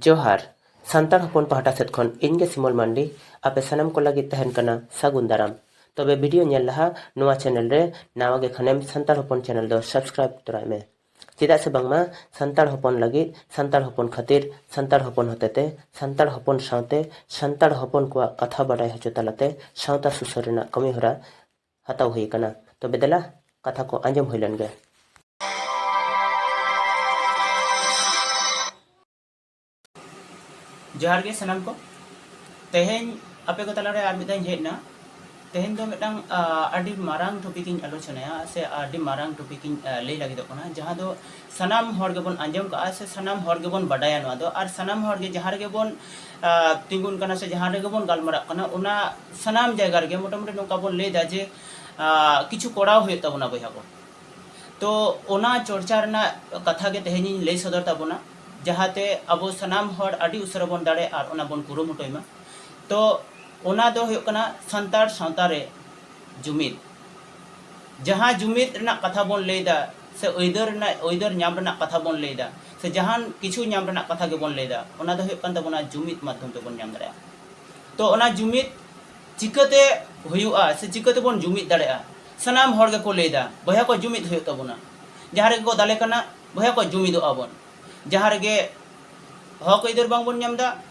ᱡᱚᱦᱟᱨ ᱥᱟᱱᱛᱟᱲ ᱦᱚᱯᱚᱱ ᱯᱟᱦᱴᱟ ᱥᱮᱫ ᱠᱷᱚᱱ ᱤᱧ ᱜᱮ ᱥᱤᱢᱚᱞ ᱢᱟᱱᱰᱤ ᱟᱯᱮ ᱥᱟᱱᱟᱢ ᱠᱚ ᱞᱟᱹᱜᱤᱫ ᱛᱟᱦᱮᱱ ᱠᱟᱱᱟ ᱥᱟᱹᱜᱩᱱ ᱫᱟᱨᱟᱢ ᱛᱚᱵᱮ ᱵᱷᱤᱰᱤᱭᱳ ᱧᱮᱞ ᱞᱟᱦᱟ ᱱᱚᱣᱟ ᱪᱮᱱᱮᱞ ᱨᱮ ᱱᱟᱣᱟ ᱜᱮ ᱠᱷᱟᱱᱮᱢ ᱥᱟᱱᱛᱟᱲ ᱦᱚᱯᱚᱱ ᱪᱮᱱᱮᱞ ᱫᱚ ᱥᱟᱵᱥᱠᱨᱟᱭᱤᱵ ᱛᱚᱨᱟᱭ ᱢᱮ ᱪᱮᱫᱟᱜ ᱥᱮ ᱵᱟᱝᱢᱟ ᱥᱟᱱᱛᱟᱲ ᱦᱚᱯᱚᱱ ᱞᱟᱹᱜᱤᱫ ᱥᱟᱱᱛᱟᱲ ᱦᱚᱯᱚᱱ ᱠᱷᱟᱹᱛᱤᱨ ᱥᱟᱱᱛᱟᱲ ᱦᱚᱯᱚᱱ ᱦᱚᱛᱮᱛᱮ ᱥᱟᱱᱛᱟᱲ ᱦᱚᱯᱚᱱ ᱥᱟᱶᱛᱮ ᱥᱟᱱᱛᱟᱲ ᱦᱚᱯᱚᱱ ᱠᱚᱣᱟᱜ ᱠᱟᱛᱷᱟ ᱵᱟᱰᱟᱭ ᱦᱚᱪᱚ ᱛᱟᱞᱟᱛᱮ ᱥᱟᱶᱛᱟ ᱥᱩᱥᱟᱹᱨ ᱨᱮᱱᱟᱜ ᱠᱟᱹᱢᱤᱦᱚᱨᱟ ᱦᱟᱛᱟᱣ ᱦᱩᱭ ᱟᱠᱟᱱᱟ᱾ ᱛᱚᱵᱮ ᱫᱮᱞᱟ ᱠᱟᱛᱷᱟ ᱠᱚ ᱟᱸᱡᱚᱢ ᱦᱩᱭ ᱞᱮᱱ ᱜᱮ᱾ ᱡᱚᱦᱟᱨ ᱜᱮ ᱥᱟᱱᱟᱢ ᱠᱚ᱾ ᱛᱮᱦᱮᱧ ᱟᱯᱮ ᱠᱚ ᱛᱟᱞᱟ ᱨᱮ ᱟᱨ ᱢᱤᱫ ᱫᱷᱟᱣ ᱤᱧ ᱦᱮᱡ ᱮᱱᱟ᱾ ᱛᱮᱦᱮᱧ ᱫᱚ ᱢᱤᱫᱴᱟᱝ ᱟᱹᱰᱤ ᱢᱟᱨᱟᱝ ᱴᱚᱯᱤᱠ ᱤᱧ ᱟᱞᱳᱪᱚᱱᱟᱭᱟ ᱥᱮ ᱟᱹᱰᱤ ᱢᱟᱨᱟᱝ ᱴᱚᱯᱤᱠ ᱤᱧ ᱞᱟᱹᱭ ᱞᱟᱹᱜᱤᱫᱚᱜ ᱠᱟᱱᱟ ᱡᱟᱦᱟᱸ ᱫᱚ ᱥᱟᱱᱟᱢ ᱦᱚᱲ ᱜᱮᱵᱚᱱ ᱟᱸᱡᱚᱢ ᱠᱟᱜᱼᱟ ᱥᱮ ᱥᱟᱱᱟᱢ ᱦᱚᱲ ᱜᱮᱵᱚᱱ ᱵᱟᱰᱟᱭᱟ ᱱᱚᱣᱟ ᱫᱚ ᱟᱨ ᱥᱟᱱᱟᱢ ᱦᱚᱲ ᱜᱮ ᱡᱟᱦᱟᱸ ᱨᱮᱜᱮ ᱵᱚᱱ ᱛᱤᱸᱜᱩᱱ ᱠᱟᱱᱟ ᱥᱮ ᱡᱟᱦᱟᱸ ᱨᱮᱜᱮ ᱵᱚᱱ ᱜᱟᱞᱢᱟᱨᱟᱜ ᱠᱟᱱᱟ ᱚᱱᱟ ᱥᱟᱱᱟᱢ ᱡᱟᱭᱜᱟ ᱨᱮᱜᱮ ᱢᱚᱴᱟᱢᱩᱴᱤ ᱱᱚᱝᱠᱟ ᱵᱚᱱ ᱞᱟᱹᱭᱫᱟ ᱡᱮ ᱠᱤᱪᱷᱩ ᱠᱚᱨᱟᱣ ᱦᱩᱭᱩᱜ ᱛᱟᱵᱚᱱᱟ ᱵᱚᱭᱦᱟ ᱠᱚ ᱛᱚ ᱚᱱᱟ ᱪᱚᱨᱪᱟ ᱨᱮᱱᱟᱜ ᱠᱟᱛᱷᱟ ᱜᱮ ᱛᱮᱦᱮᱧᱤᱧ ᱞᱟᱹᱭ ᱥᱚᱫᱚᱨ ᱛᱟᱵᱚᱱᱟ ᱡᱟᱦᱟᱸᱛᱮ ᱟᱵᱚ ᱥᱟᱱᱟᱢ ᱦᱚᱲ ᱟᱹᱰᱤ ᱩᱥᱟᱹᱨᱟ ᱵᱚᱱ ᱫᱟᱲᱮ ᱟᱨ ᱚᱱᱟ ᱵᱚᱱ ᱠᱩᱨᱩᱢᱩᱴᱩᱭ ᱢᱟ ᱛᱚ ᱚᱱᱟ ᱫᱚ ᱦᱩᱭᱩᱜ ᱠᱟᱱᱟ ᱥᱟᱱᱛᱟᱲ ᱥᱟᱶᱛᱟ ᱨᱮ ᱡᱩᱢᱤᱫ ᱡᱟᱦᱟᱸ ᱡᱩᱢᱤᱫ ᱨᱮᱱᱟᱜ ᱠᱟᱛᱷᱟ ᱵᱚᱱ ᱞᱟᱹᱭᱫᱟ ᱥᱮ ᱟᱹᱭᱫᱟᱹᱨ ᱨᱮᱱᱟᱜ ᱟᱹᱭᱫᱟᱹᱨ ᱧᱟᱢ ᱨᱮᱱᱟᱜ ᱠᱟᱛᱷᱟ ᱵᱚᱱ ᱞᱟᱹᱭ ᱮᱫᱟ ᱥᱮ ᱡᱟᱦᱟᱱ ᱠᱤᱪᱷᱩ ᱧᱟᱢ ᱨᱮᱱᱟᱜ ᱠᱟᱛᱷᱟ ᱜᱮᱵᱚᱱ ᱞᱟᱹᱭ ᱮᱫᱟ ᱚᱱᱟ ᱫᱚ ᱦᱩᱭᱩᱜ ᱠᱟᱱ ᱛᱟᱵᱚᱱᱟ ᱡᱩᱢᱤᱫ ᱢᱟᱫᱷᱚᱢ ᱛᱮᱵᱚᱱ ᱧᱟᱢ ᱫᱟᱲᱮᱭᱟᱜᱼᱟ ᱛᱚ ᱚᱱᱟ ᱡᱩᱢᱤᱫ ᱪᱤᱠᱟᱹᱛᱮ ᱦᱩᱭᱩᱜᱼᱟ ᱥᱮ ᱪᱤᱠᱟᱹ ᱛᱮᱵᱚᱱ ᱡᱩᱢᱤᱫ ᱫᱟᱲᱮᱭᱟᱜᱼᱟ ᱥᱟᱱᱟᱢ ᱦᱚᱲ ᱜᱮᱠᱚ ᱞᱟᱹᱭ ᱮᱫᱟ ᱵᱚᱭᱦᱟ ᱠᱚ ᱡᱩᱢᱤᱫ ᱦᱩᱭᱩᱜ ᱛᱟᱵᱚᱱᱟ ᱡᱟᱦᱟᱸ ᱨᱮᱜᱮ ᱠᱚ ᱫᱟᱞᱮ ᱠᱟᱱᱟ ᱵᱚᱭᱦᱟ ᱠᱚ ᱡᱩᱢᱤᱫᱚᱜᱼᱟ ᱵᱚᱱ ᱡᱟᱦᱟᱸ ᱨᱮᱜᱮ ᱦᱚᱠ ᱟᱹᱭᱫᱟᱹᱨ ᱵᱟᱝ ᱵᱚᱱ ᱧᱟᱢ ᱮᱫᱟ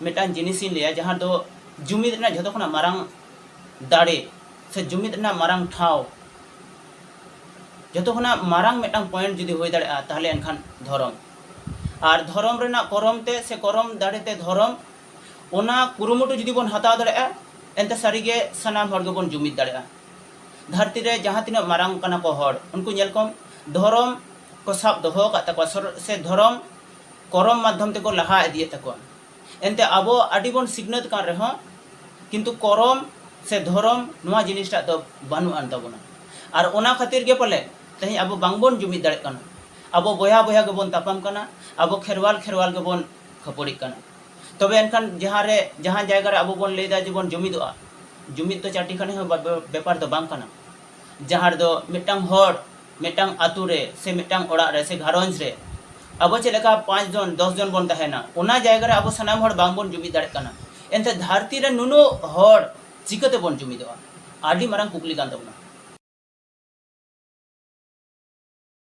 ᱢᱤᱫᱴᱟᱝ ᱡᱤᱱᱤᱥ ᱤᱧ ᱞᱟᱹᱭᱟ ᱡᱟᱦᱟᱸ ᱫᱚ ᱡᱩᱢᱤᱫ ᱨᱮᱱᱟᱜ ᱡᱷᱚᱛᱚ ᱠᱷᱚᱱᱟᱜ ᱢᱟᱨᱟᱝ ᱫᱟᱲᱮ ᱥᱮ ᱡᱩᱢᱤᱫ ᱨᱮᱱᱟᱜ ᱢᱟᱨᱟᱝ ᱴᱷᱟᱶ ᱡᱷᱚᱛᱚ ᱠᱷᱚᱱᱟᱜ ᱢᱟᱨᱟᱝ ᱢᱤᱫᱴᱟᱝ ᱯᱚᱭᱮᱱᱴ ᱡᱩᱫᱤ ᱦᱩᱭ ᱫᱟᱲᱮᱭᱟᱜᱼᱟ ᱛᱟᱦᱞᱮ ᱮᱱᱠᱷᱟᱱ ᱫᱷᱚᱨᱚᱢ ᱟᱨ ᱫᱷᱚᱨᱚᱢ ᱨᱮᱱᱟᱜ ᱠᱚᱨᱚᱢ ᱛᱮ ᱥᱮ ᱠᱚᱨᱚᱢ ᱫᱟᱲᱮ ᱛᱮ ᱫᱷᱚᱨᱚᱢ ᱚᱱᱟ ᱠᱩᱨᱩᱢᱩᱴᱩ ᱡᱩᱫᱤ ᱵᱚᱱ ᱦᱟᱛᱟᱣ ᱫᱟᱲᱮᱭᱟᱜᱼᱟ ᱮᱱᱛᱮ ᱥᱟᱹᱨᱤᱜᱮ ᱥᱟᱱᱟᱢ ᱦᱚᱲ ᱜᱮᱵᱚᱱ ᱡᱩᱢᱤᱫ ᱫᱟᱲᱮᱭᱟᱜᱼᱟ ᱫᱷᱟᱹᱨᱛᱤ ᱨᱮ ᱡᱟᱦᱟᱸ ᱛᱤᱱᱟᱹᱜ ᱢᱟᱨᱟᱝ ᱠᱟᱱᱟ ᱠᱚ ᱦᱚᱲ ᱩᱱᱠᱩ ᱧᱮᱞ ᱠᱚᱢ ᱫᱷᱚᱨᱚᱢ ᱠᱚ ᱥᱟᱵ ᱫᱚᱦᱚ ᱟᱠᱟᱫ ᱛᱟᱠᱚᱣᱟ ᱥᱮ ᱫᱷᱚᱨᱚᱢ ᱠᱚᱨᱚᱢ ᱢᱟᱫᱷᱭᱚᱢ ᱛᱮᱠᱚ ᱞᱟᱦᱟ ᱤᱫᱤᱭᱮᱫ ᱛᱟᱠᱚᱣᱟ ᱮᱱᱛᱮ ᱟᱵᱚ ᱟᱹᱰᱤ ᱵᱚᱱ ᱥᱤᱠᱷᱱᱟᱹᱛ ᱠᱟᱱ ᱨᱮᱦᱚᱸ ᱠᱤᱱᱛᱩ ᱠᱚᱨᱚᱢ ᱥᱮ ᱫᱷᱚᱨᱚᱢ ᱱᱚᱣᱟ ᱡᱤᱱᱤᱥ ᱴᱟᱜ ᱫᱚ ᱵᱟᱹᱱᱩᱜ ᱟᱱ ᱛᱟᱵᱚᱱᱟ ᱟᱨ ᱚᱱᱟ ᱠᱷᱟᱹᱛᱤᱨ ᱜᱮ ᱯᱟᱞᱮ ᱛᱮᱦᱮᱧ ᱟᱵᱚ ᱵᱟᱝ ᱵᱚᱱ ᱡᱩᱢᱤᱫ ᱫᱟᱲᱮᱜ ᱠᱟᱱᱟ ᱟᱵᱚ ᱵᱚᱭᱦᱟ ᱵᱚᱭᱦᱟ ᱜᱮᱵᱚᱱ ᱛᱟᱯᱟᱢ ᱠᱟᱱᱟ ᱟᱵᱚ ᱠᱷᱮᱨᱣᱟᱞ ᱠᱷᱮᱨᱣᱟᱞ ᱜᱮᱵᱚᱱ ᱠᱷᱟᱹᱯᱟᱹᱲᱤᱜ ᱠᱟᱱᱟ ᱛᱚᱵᱮ ᱮᱱᱠᱷᱟᱱ ᱡᱟᱦᱟᱸ ᱨᱮ ᱡᱟᱦᱟᱸ ᱡᱟᱭᱜᱟ ᱨᱮ ᱟᱵᱚ ᱵᱚᱱ ᱞᱟᱹᱭᱫᱟ ᱡᱮ ᱵᱚᱱ ᱡᱩᱢᱤᱫᱚᱜᱼᱟ ᱡᱩᱢᱤᱫ ᱫᱚ ᱪᱟᱹᱴᱤ ᱠᱷᱟᱹᱱᱤ ᱦᱚᱸ ᱵᱮᱯᱟᱨ ᱫᱚ ᱵᱟᱝ ᱠᱟᱱᱟ ᱡᱟᱦᱟᱸ ᱨᱮᱫᱚ ᱢᱤᱫᱴᱟᱝ ᱦᱚᱲ ᱢᱤᱫᱴᱟᱝ ᱟᱹᱛᱩ ᱨᱮ ᱥᱮ ᱢᱤᱫᱴᱟᱝ ᱚᱲᱟᱜ ᱨᱮ ᱥᱮ ᱜᱷᱟᱨᱚᱸᱡᱽ ᱨᱮ ᱟᱵᱚ ᱪᱮᱫ ᱞᱮᱠᱟ ᱯᱟᱸᱪ ᱡᱚᱱ ᱫᱚᱥ ᱡᱚᱱ ᱵᱚᱱ ᱛᱟᱦᱮᱱᱟ ᱚᱱᱟ ᱡᱟᱭᱜᱟ ᱨᱮ ᱟᱵᱚ ᱥᱟᱱᱟᱢ ᱦᱚᱲ ᱵᱟᱝ ᱵᱚᱱ ᱡᱩᱢᱤᱫ ᱫᱟᱲᱮᱭᱟᱜ ᱠᱟᱱᱟ ᱮᱱᱛᱮ ᱫᱷᱟᱹᱨᱛᱤ ᱨᱮ ᱱᱩᱱᱟᱹᱜ ᱦᱚᱲ ᱪᱤᱠᱟᱹ ᱛᱮᱵᱚᱱ ᱡᱩᱢᱤᱫᱚᱜᱼᱟ ᱟᱹᱰᱤ ᱢᱟᱨᱟᱝ ᱠᱩᱠᱞᱤ ᱠᱟᱱ ᱛᱟᱵᱚᱱᱟ